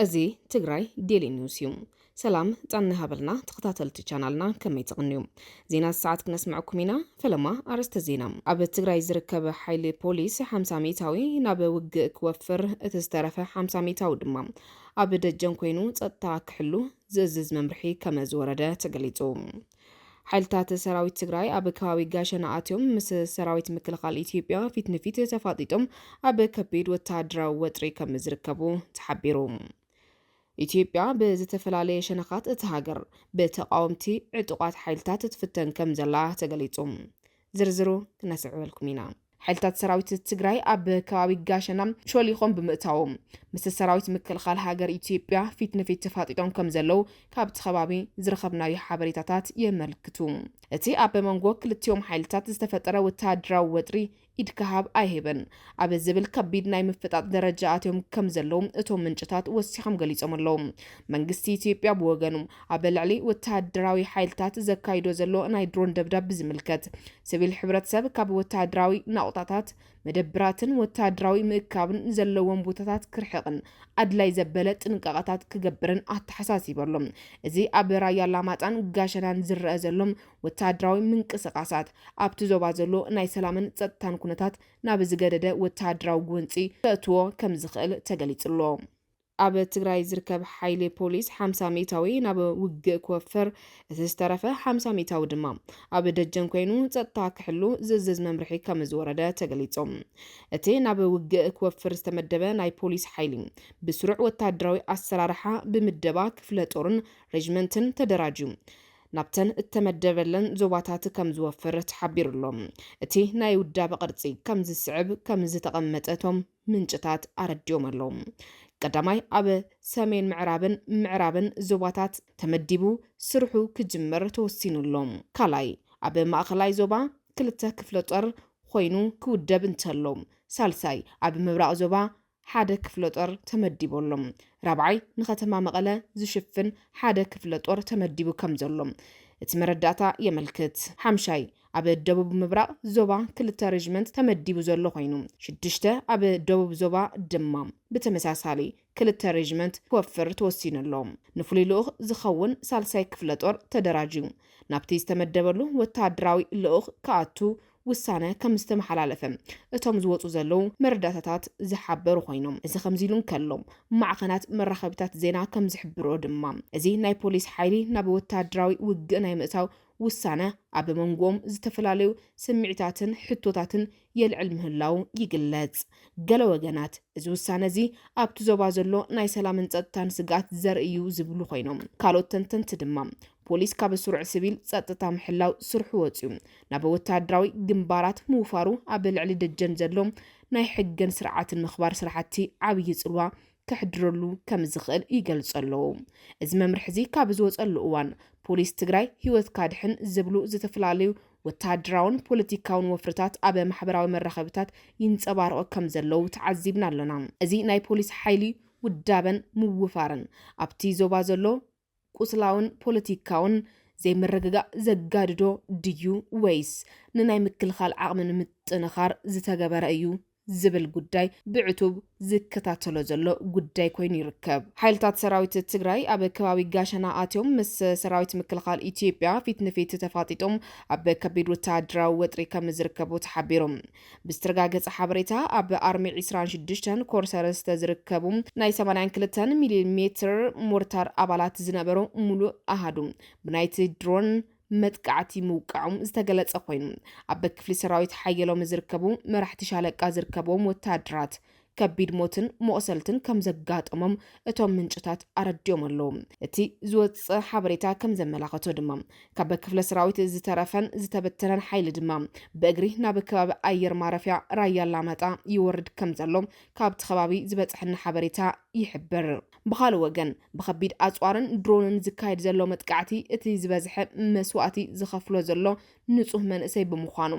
እዚ ትግራይ ዴሊ ኒውስ እዩ። ሰላም ጣና ሃበልና ተኸታተልቲ ቻናልና ከመይ ትቕንዩ ዜና ሰዓት ክነስምዐኩም ኢና። ፈለማ ኣርእስተ ዜና ኣብ ትግራይ ዝርከብ ሓይሊ ፖሊስ 50 ሚእታዊ ናብ ውግእ ክወፍር እቲ ዝተረፈ 50 ሚእታዊ ድማ ኣብ ደጀን ኮይኑ ጸጥታ ክሕሉ ዝእዝዝ መምርሒ ከመ ዝወረደ ተገሊጹ። ሓይልታት ሰራዊት ትግራይ ኣብ ከባቢ ጋሸና ኣትዮም ምስ ሰራዊት ምክልኻል ኢትዮጵያ ፊት ንፊት ተፋጢጦም ኣብ ከቢድ ወተሃደራዊ ወጥሪ ከም ዝርከቡ ተሓቢሩ። ኢትዮጵያ ብዝተፈላለየ ሸነኻት እታ ሃገር ብተቓወምቲ ዕጡቓት ሓይልታት ትፍተን ከም ዘላ ተገሊጹ። ዝርዝሩ ክነስዕበልኩም ኢና። ሓይልታት ሰራዊት ትግራይ ኣብ ከባቢ ጋሸና ሾሊኾም ብምእታዎም ምስ ሰራዊት ምክልኻል ሃገር ኢትዮጵያ ፊት ንፊት ተፋጢጦም ከም ዘለው ካብቲ ከባቢ ዝረኸብናዮ ሓበሬታታት የመልክቱ። እቲ ኣብ መንጎ ክልቲኦም ሓይልታት ዝተፈጠረ ወተሃደራዊ ወጥሪ ኢድካ ሃብ ኣይህብን ኣብ ዝብል ከቢድ ናይ ምፍጣጥ ደረጃ ኣትዮም ከም ዘለው እቶም ምንጭታት ወሲኾም ገሊጾም ኣለው። መንግስቲ ኢትዮጵያ ብወገኑ ኣብ ልዕሊ ወተሃደራዊ ሓይልታት ዘካይዶ ዘሎ ናይ ድሮን ደብዳብ ብዝምልከት ስቪል ሕብረተሰብ ካብ ወተሃደራዊ ናቑጣታት፣ መደብራትን ወተሃደራዊ ምእካብን ዘለዎም ቦታታት ክርሕቕን ኣድላይ ዘበለ ጥንቃቐታት ክገብርን ኣተሓሳሲቡ ኣሎ። እዚ ኣብ ራያ ኣላማጣን ጋሸናን ዝረኣ ዘሎ ወተሃደራዊ ምንቅስቓሳት፣ ኣብቲ ዞባ ዘሎ ናይ ሰላምን ጸጥታን ኩነታት ናብ ዝገደደ ወተሃደራዊ ጎንጺ ከእትዎ ከምዝኽእል ተገሊጹ'ሎ። ኣብ ትግራይ ዝርከብ ሓይሊ ፖሊስ ሓምሳ ሚእታዊ ናብ ውግእ ክወፍር፣ እቲ ዝተረፈ ሓምሳ ሚእታዊ ድማ ኣብ ደጀን ኮይኑ ጸጥታ ክሕሉ ዝእዝዝ መምርሒ ከምዝወረደ ተገሊጹ። እቲ ናብ ውግእ ክወፍር ዝተመደበ ናይ ፖሊስ ሓይሊ ብስሩዕ ወተሃደራዊ ኣሰራርሓ ብምደባ ክፍለ ጦርን ሬጅመንትን ተደራጅዩ ናብተን እተመደበለን ዞባታት ከምዝወፍር ተሓቢሩ'ሎ። እቲ ናይ ውዳበ ቅርጺ ከምዝስዕብ ከምዝተቐመጠ እቶም ምንጭታት ኣረዲኦም ኣለው። ቀዳማይ ኣብ ሰሜን ምዕራብን ምዕራብን ዞባታት ተመዲቡ ስርሑ ክጅምር ተወሲኑ ኣሎ። ካልኣይ ኣብ ማእኸላይ ዞባ ክልተ ክፍለጦር ኾይኑ ክውደብ እንተሎ። ሳልሳይ ኣብ ምብራቕ ዞባ ሓደ ክፍለጦር ተመዲቡ ኣሎ። ራብዓይ ንከተማ መቐለ ዝሽፍን ሓደ ክፍለጦር ተመዲቡ ከምዘሎ እቲ መረዳእታ የመልክት። ሓምሻይ ኣብ ደቡብ ምብራቕ ዞባ ክልተ ሬጅመንት ተመዲቡ ዘሎ ኮይኑ፣ ሽዱሽተ ኣብ ደቡብ ዞባ ድማ ብተመሳሳሊ ክልተ ሬጅመንት ክወፍር ተወሲኑ ኣሎ። ንፍሉይ ልኡኽ ዝኸውን ሳልሳይ ክፍለ ጦር ተደራጅዩ ናብቲ ዝተመደበሉ ወተሃደራዊ ልኡኽ ክኣቱ ውሳነ ከም ዝተመሓላለፈ እቶም ዝወፁ ዘለዉ መረዳእታታት ዝሓበሩ ኮይኖም፣ እዚ ከምዚ ኢሉ እንከሎ ማዕኸናት መራኸቢታት ዜና ከም ዝሕብርኦ ድማ እዚ ናይ ፖሊስ ሓይሊ ናብ ወተሃደራዊ ውግእ ናይ ምእታው ውሳነ ኣብ መንጎኦም ዝተፈላለዩ ስምዒታትን ሕቶታትን የልዕል ምህላዉ ይግለጽ። ገለ ወገናት፣ እዚ ውሳነ'ዚ ኣብቲ ዞባ ዘሎ ናይ ሰላምን ጸጥታን ስግኣት ዘርኢ'ዩ ዝብሉ ኮይኖም፣ ካልኦት ተንተንቲ ድማ፣ ፖሊስ ካብ ስሩዕ ስቪል ጸጥታ ምሕላው ስርሑ ወጺኡ ናብ ወተሃደራዊ ግንባራት ምውፋሩ ኣብ ልዕሊ ደጀን ዘሎ ናይ ሕግን ስርዓትን ምኽባር ስራሕቲ ዓብዪ ጽልዋ ከሕድረሉ ከምዝኽእል ይገልጹ ኣለዉ። እዚ መምርሒ እዚ ካብ ዝወፀሉ እዋን ፖሊስ ትግራይ ህይወትካ ድሕን ዝብሉ ዝተፈላለዩ ወተሃደራውን ፖለቲካውን ወፍርታት ኣብ ማሕበራዊ መራኸቢታት ይንፀባረቑ ከም ዘለዉ ተዓዚብና ኣለና። እዚ ናይ ፖሊስ ሓይሊ ውዳበን ምውፋርን ኣብቲ ዞባ ዘሎ ቁስላውን ፖለቲካውን ዘይምርግጋእ ዘጋድዶ ድዩ ወይስ ንናይ ምክልኻል ዓቕሚ ንምጥንኻር ዝተገበረ እዩ ዝብል ጉዳይ ብዕቱብ ዝከታተሎ ዘሎ ጉዳይ ኮይኑ ይርከብ። ሓይልታት ሰራዊት ትግራይ ኣብ ከባቢ ጋሸና ኣትዮም ምስ ሰራዊት ምክልኻል ኢትዮጵያ ፊት ንፊት ተፋጢጦም ኣብ ከቢድ ወተሃደራዊ ወጥሪ ከምዝርከቡ ተሓቢሩ። ብዝተረጋገፀ ሓበሬታ ኣብ ኣርሚ ዒስራን ሽዱሽተን ኮር ሰለስተ ዝርከቡ ናይ ሰማንያን ክልተን ሚሊ ሜትር ሞርታር ኣባላት ዝነበሩ ሙሉእ ኣሃዱ ብናይቲ ድሮን መጥቃዕቲ ምውቃዖም ዝተገለፀ ኮይኑ ኣብ ክፍሊ ሰራዊት ሓየሎም ዝርከቡ መራሕቲ ሻለቃ ዝርከብዎም ወታደራት ከቢድ ሞትን መቑሰልትን ከም ዘጋጠሞም እቶም ምንጭታት ኣረዲኦም ኣለዉ። እቲ ዝወጸ ሓበሬታ ከም ዘመላኸቶ ድማ ካብ ክፍለ ሰራዊት ዝተረፈን ዝተበተነን ሓይሊ ድማ ብእግሪ ናብ ከባቢ ኣየር ማረፍያ ራያ ኣላማጣ ይወርድ ከም ዘሎ ካብቲ ከባቢ ዝበጽሐና ሓበሬታ ይሕብር። ብኻልእ ወገን ብከቢድ ኣጽዋርን ድሮንን ዝካየድ ዘሎ መጥቃዕቲ እቲ ዝበዝሐ መስዋእቲ ዝኸፍሎ ዘሎ ንጹህ መንእሰይ ብምዃኑ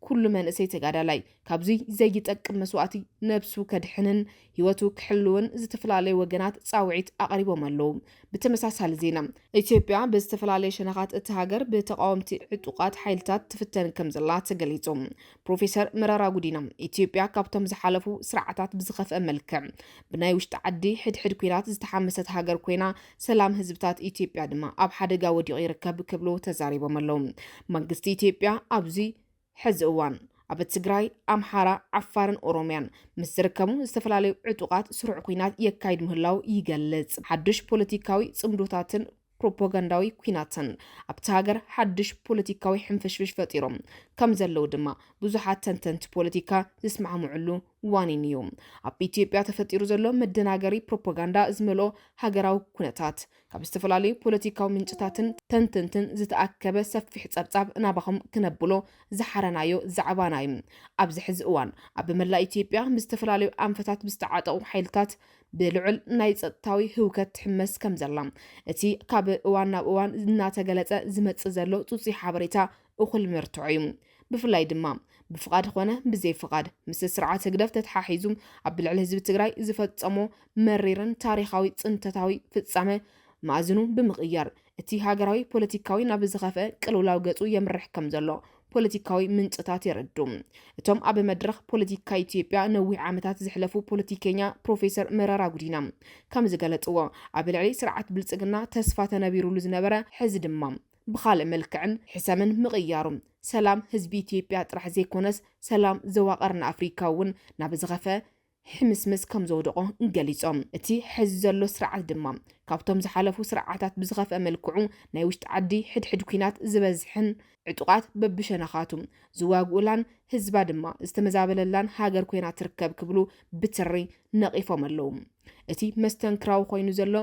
ኩሉ መንእሰይ ተጋዳላይ ካብዙይ ዘይጠቅም መስዋእቲ ነብሱ ከድሕንን ህይወቱ ክሕልውን ዝተፈላለዩ ወገናት ፃውዒት ኣቕሪቦም ኣለዉ። ብተመሳሳሊ ዜና ኢትዮጵያ ብዝተፈላለየ ሸነኻት እቲ ሃገር ብተቓወምቲ ዕጡቓት ሓይልታት ትፍተን ከምዘላ ተገሊፁ። ፕሮፌሰር መረራ ጉዲና ኢትዮጵያ ካብቶም ዝሓለፉ ስርዓታት ብዝኸፍአ መልክዕ ብናይ ውሽጢ ዓዲ ሕድሕድ ኲናት ዝተሓመሰት ሃገር ኮይና ሰላም ህዝብታት ኢትዮጵያ ድማ ኣብ ሓደጋ ወዲቑ ይርከብ ክብሉ ተዛሪቦም ኣለው። መንግስቲ ኢትዮጵያ ኣብዚ ሕዚ እዋን ኣብ ትግራይ፣ ኣምሓራ፣ ዓፋርን ኦሮምያን ምስ ዝርከቡ ዝተፈላለዩ ዕጡቓት ስሩዕ ኲናት የካይድ ምህላው ይገልጽ። ሓዱሽ ፖለቲካዊ ጽምዶታትን ፕሮፓጋንዳዊ ኲናትን ኣብቲ ሃገር ሓዱሽ ፖለቲካዊ ሕንፍሽፍሽ ፈጢሮም ከም ዘለው ድማ ብዙሓት ተንተንቲ ፖለቲካ ዝስማዕምዕሉ ዋኒን እዩ። ኣብ ኢትዮጵያ ተፈጢሩ ዘሎ መደናገሪ ፕሮፓጋንዳ ዝመልኦ ሃገራዊ ኩነታት፣ ካብ ዝተፈላለዩ ፖለቲካዊ ምንጭታትን ተንተንትን ዝተኣከበ ሰፊሕ ጸብጻብ ናባኹም ክነብሎ ዝሓረናዮ ዛዕባና እዩ። ኣብዚ ሕዚ እዋን፣ ኣብ መላእ ኢትዮጵያ ብዝተፈላለዩ ኣንፈታት ብዝተዓጠቑ ሓይልታት ብልዑል ናይ ጸጥታዊ ህውከት ትሕመስ ከምዘላ፣ እቲ ካብ እዋን ናብ እዋን እናተገለጸ ዝመጽእ ዘሎ ጽጹይ ሓበሬታ እኹል መርትዖ እዩ። ብፍላይ ድማ ብፍቓድ ኾነ ብዘይ ፍቓድ ምስ ስርዓት ህግደፍ ተተሓሒዙ ኣብ ልዕሊ ህዝቢ ትግራይ ዝፈፀሞ መሪርን ታሪኻዊ ፅንተታዊ ፍፃመ መኣዝኑ ብምቕያር እቲ ሃገራዊ ፖለቲካዊ ናብ ዝኸፍአ ቅልውላው ገፁ የምርሕ ከም ዘሎ ፖለቲካዊ ምንጭታት የረዱ። እቶም ኣብ መድረኽ ፖለቲካ ኢትዮጵያ ነዊሕ ዓመታት ዝሕለፉ ፖለቲከኛ ፕሮፌሰር መረራ ጉዲና ከም ዝገለፅዎ ኣብ ልዕሊ ስርዓት ብልፅግና ተስፋ ተነቢሩሉ ዝነበረ ሕዚ ድማ ብኻልእ መልክዕን ሕሰምን ምቕያሩ፣ ሰላም ህዝቢ ኢትዮጵያ ጥራሕ ዘይኮነስ ሰላም ዞባ ቀርኒ ኣፍሪካ እውን ናብ ዝኸፈ ሕምስምስ ከምዘውደቖ ገሊፆም። እቲ ሐዚ ዘሎ ስርዓት ድማ ካብቶም ዝሓለፉ ስርዓታት ብዝኸፍአ መልክዑ ናይ ውሽጢ ዓዲ ሕድሕድ ኲናት ዝበዝሐን ዕጡቓት በብሸነኻቱ ዝዋግኡላን ህዝባ ድማ ዝተመዛበለላን ሃገር ኮይና ትርከብ ክብሉ ብትሪ ነቒፎም ኣለው። እቲ መስተንክራዊ ኮይኑ ዘሎ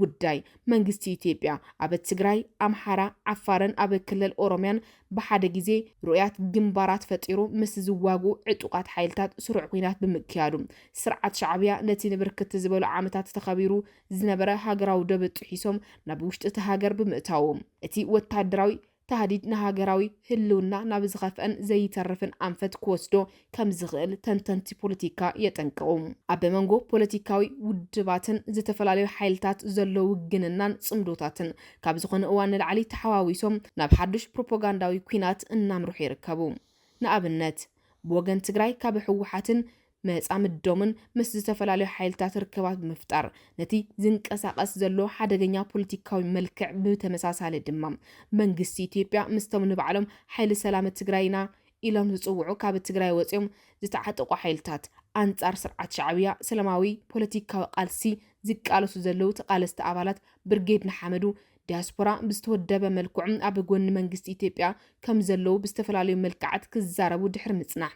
ጉዳይ መንግስቲ ኢትዮጵያ ኣብ ትግራይ፣ ኣምሓራ፣ ዓፋርን ኣብ ክልል ኦሮምያን ብሓደ ግዜ ርኡያት ግንባራት ፈጢሩ ምስ ዝዋግኡ ዕጡቓት ሓይልታት ስሩዕ ኲናት ብምክያዱ፣ ስርዓት ሻዕብያ ነቲ ንብርክት ዝበሉ ዓመታት ተኸቢሩ ዝነበረ ሃገራዊ ዶብ ጥሒሶም ናብ ውሽጢ'ቲ ሃገር ብምእታዉ፣ እቲ ወተሃደራዊ ታህዲድ ንሃገራዊ ህልውና ናብ ዝኸፍአን ዘይተርፍን ኣንፈት ክወስዶ ከምዝኽእል ተንተንቲ ፖለቲካ የጠንቅቑ። ኣብ መንጎ ፖለቲካዊ ውድባትን ዝተፈላለዩ ሓይልታት ዘሎ ውግንናን ጽምዶታትን ካብ ዝኾነ እዋን ንላዕሊ ተሓዋዊሶም ናብ ሓዱሽ ፕሮፖጋንዳዊ ኲናት እናምርሑ ይርከቡ። ንኣብነት ብወገን ትግራይ ካብ ህወሓትን መጻምዶምን ምስ ዝተፈላለዩ ሓይልታት ርክባት ብምፍጣር ነቲ ዝንቀሳቐስ ዘሎ ሓደገኛ ፖለቲካዊ መልክዕ ብተመሳሳሊ ድማ መንግስቲ ኢትዮጵያ ምስቶም ንባዕሎም ሓይሊ ሰላም ትግራይ ኢና ኢሎም ዝጽውዑ ካብ ትግራይ ወጺኦም ዝተዓጠቑ ሓይልታት ኣንጻር ስርዓት ሻዕብያ ሰላማዊ ፖለቲካዊ ቃልሲ ዝቃለሱ ዘለዉ ተቓለስቲ ኣባላት ብርጌድ ንሓመዱ ዲያስፖራ ብዝተወደበ መልክዑ ኣብ ጎኒ መንግስቲ ኢትዮጵያ ከም ዘለዉ ብዝተፈላለዩ መልክዓት ክዛረቡ ድሕሪ ምጽናሕ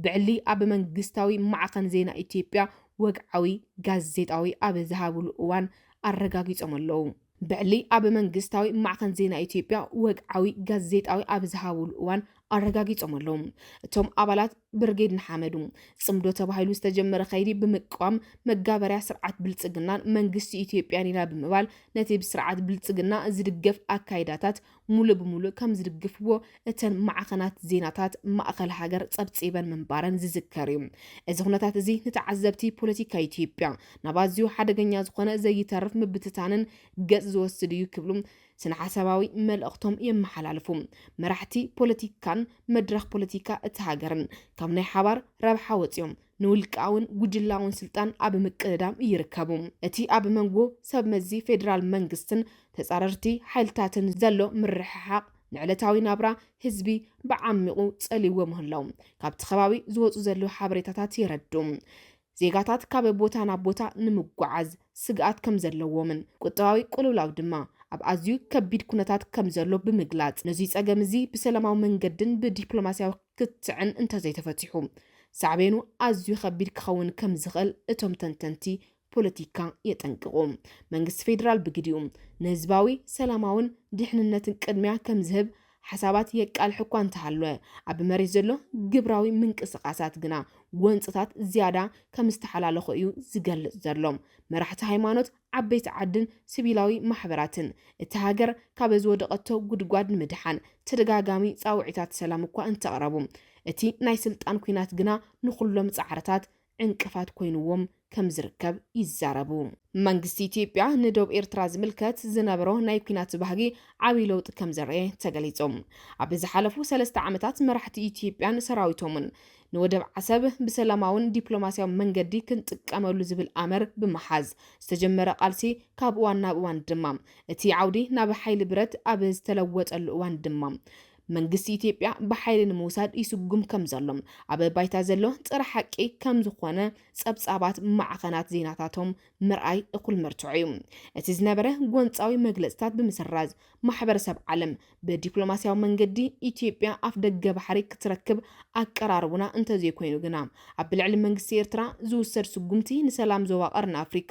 ብዕሊ ኣብ መንግስታዊ ማዕኸን ዜና ኢትዮጵያ ወግዓዊ ጋዜጣዊ ኣብ ዝሃብሉ እዋን ኣረጋጊጾም ኣለዉ። ብዕሊ ኣብ መንግስታዊ ማዕኸን ዜና ኢትዮጵያ ወግዓዊ ጋዜጣዊ ኣብ ዝሃብሉ እዋን ኣረጋጊጾም ኣለዉ። እቶም ኣባላት ብርጌድ ንሓመዱ ጽምዶ ተባሂሉ ዝተጀመረ ከይዲ ብምቅዋም መጋበርያ ስርዓት ብልጽግናን መንግስቲ ኢትዮጵያን ኢና ብምባል ነቲ ብስርዓት ብልጽግና ዝድገፍ ኣካይዳታት ሙሉእ ብሙሉእ ከም ዝድግፍዎ እተን ማዕኸናት ዜናታት ማእኸል ሃገር ጸብጺበን ምንባረን ዝዝከር እዩ። እዚ ኩነታት እዚ ንተዓዘብቲ ፖለቲካ ኢትዮጵያ ናብ ኣዝዩ ሓደገኛ ዝኾነ ዘይተርፍ ምብትታንን ገጽ ዝወስድ እዩ ክብሉ ስነሓሳባዊ መልእኽቶም የመሓላልፉ። መራሕቲ ፖለቲካን መድረኽ ፖለቲካ እቲ ሃገርን ካብ ናይ ሓባር ረብሓ ወጺኦም ንውልቃውን ጉጅላውን ስልጣን ኣብ ምቅድዳም ይርከቡ። እቲ ኣብ መንጎ ሰብመዚ ፌደራል መንግስትን ተጻረርቲ ሓይልታትን ዘሎ ምርሕሓቕ ንዕለታዊ ናብራ ህዝቢ ብዓሚቝ ጸልይዎ ምህላዉ ካብቲ ከባቢ ዝወጹ ዘለዉ ሓበሬታታት የረድኡ። ዜጋታት ካብ ቦታ ናብ ቦታ ንምጉዓዝ ስግኣት ከምዘለዎምን ቁጠባዊ ቅልውላው ድማ ኣብ ኣዝዩ ከቢድ ኩነታት ከምዘሎ ብምግላጽ፣ ነዙይ ጸገም እዚ ብሰላማዊ መንገድን ብዲፕሎማሲያዊ ክትዕን እንተዘይተፈቲሑ ሳዕቤኑ ኣዝዩ ከቢድ ክኸውን ከምዝኽእል እቶም ተንተንቲ ፖለቲካ የጠንቅቑ። መንግስቲ ፌደራል ብግዲኡ፣ ንህዝባዊ፣ ሰላማውን ድሕንነትን ቅድሚያ ከምዝህብ ሓሳባት የቃልሕ እኳ እንተሃለወ፣ ኣብ መሬት ዘሎ ግብራዊ ምንቅስቓሳት ግና ጎንፅታት ዝያዳ ከም ዝተሓላለኹ እዩ ዝገልፅ ዘሎ። መራሕቲ ሃይማኖት፣ ዓበይቲ ዓድን ስቪላዊ ማሕበራትን፣ እታ ሃገር ካብ ዝወደቐቶ ጉድጓድ ንምድሓን ተደጋጋሚ ፃውዒታት ሰላም እኳ እንተቕረቡ፣ እቲ ናይ ስልጣን ኲናት ግና ንኹሎም ፃዕርታት ዕንቅፋት ኮይኑዎም ከምዝርከብ ይዛረቡ። መንግስቲ ኢትዮጵያ ንዶብ ኤርትራ ዝምልከት ዝነበሮ ናይ ኲናት ባህጊ ዓብይ ለውጢ ከምዘርኣየ ተገሊፁ። ኣብ ዝሓለፉ ሰለስተ ዓመታት መራሕቲ ኢትዮጵያን ሰራዊቶምን ንወደብ ዓሰብ ብሰላማውን ዲፕሎማሲያዊ መንገዲ ክንጥቀመሉ ዝብል ኣምር ብምሓዝ ዝተጀመረ ቃልሲ ካብ እዋን ናብ እዋን ድማ እቲ ዓውዲ ናብ ሓይሊ ብረት ኣብ ዝተለወጠሉ እዋን ድማ መንግስቲ ኢትዮጵያ ብሓይሊ ንምውሳድ ይስጉም ከም ዘሎ ኣብ ባይታ ዘሎ ጽረ ሓቂ ከም ዝኾነ ጸብጻባት ማዕኸናት ዜናታቶም ምርኣይ እኹል መርትዖ እዩ። እቲ ዝነበረ ጎንጻዊ መግለጽታት ብምስራዝ፣ ማሕበረሰብ ዓለም ብዲፕሎማስያዊ መንገዲ ኢትዮጵያ ኣፍደገ ባሕሪ ክትረክብ ኣቀራርቡና እንተዘይኮይኑ ግና ኣብ ልዕሊ መንግስቲ ኤርትራ ዝውሰድ ስጉምቲ ንሰላም ዞባ ቀርኒ ኣፍሪካ